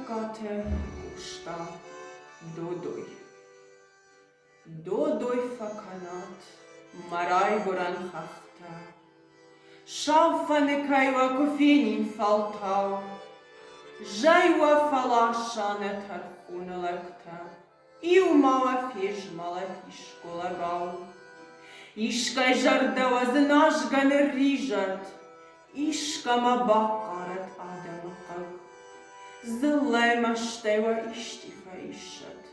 Тӕккатӕ куста Додой. Додой фӕкӕнӕд мӕ райгурӕн хӕхтӕ, Сау фӕныкӕй уӕ куы фенин фӕлтау, Зӕй уӕ фӕласса нӕ тӕрхоны лӕгтӕ. Иу малафеж, малафис, голорау. Искӕй зӕрдӕ уӕ дзыназгӕ нырризӕд, Искӕмӕ бахъарӕд адӕмы хъыг. Дзыллӕй мӕстӕй уӕ исти фӕиссӕд,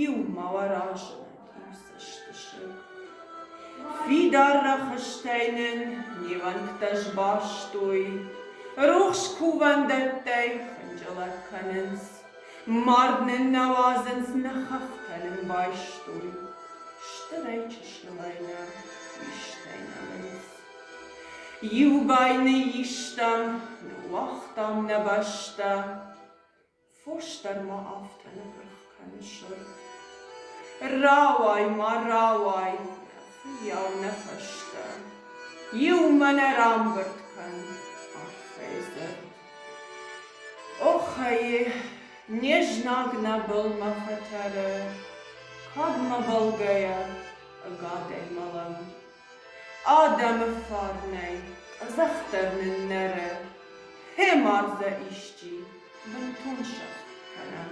Иу ма уӕ разынӕд иу цӕстысыг. Фидар рӕхыстӕй нын невӕнттӕ сбастой, Рухс кувӕндӕттӕй хынджылӕг кӕнынц. Мард нын нӕ уадзынц нӕ хӕхтӕ нын байстой, Стырӕй чыснымӕрнӕ истӕй нӕ мынц. Иу бай ныйистам, ныууагътам нӕ бӕстӕ, Фос дӕр ма афтӕ ныпырх кӕны сыр. Рауай, ма рауай, нӕ фыййау нӕ фӕстӕ, Иумӕ нӕ рамбырд кӕн, арфӕйы дзырд. Оххай, не знаг нӕбал мӕ хӕтӕлӕ, Кӕд мӕбӕлгӕйӕ ӕгад ӕй мӕлӕн. Адӕмы фарнӕй къӕдзӕхдӕр ныннӕрӕ, Фемӕ дзы исчи бынтон сӕфт кӕнӕм.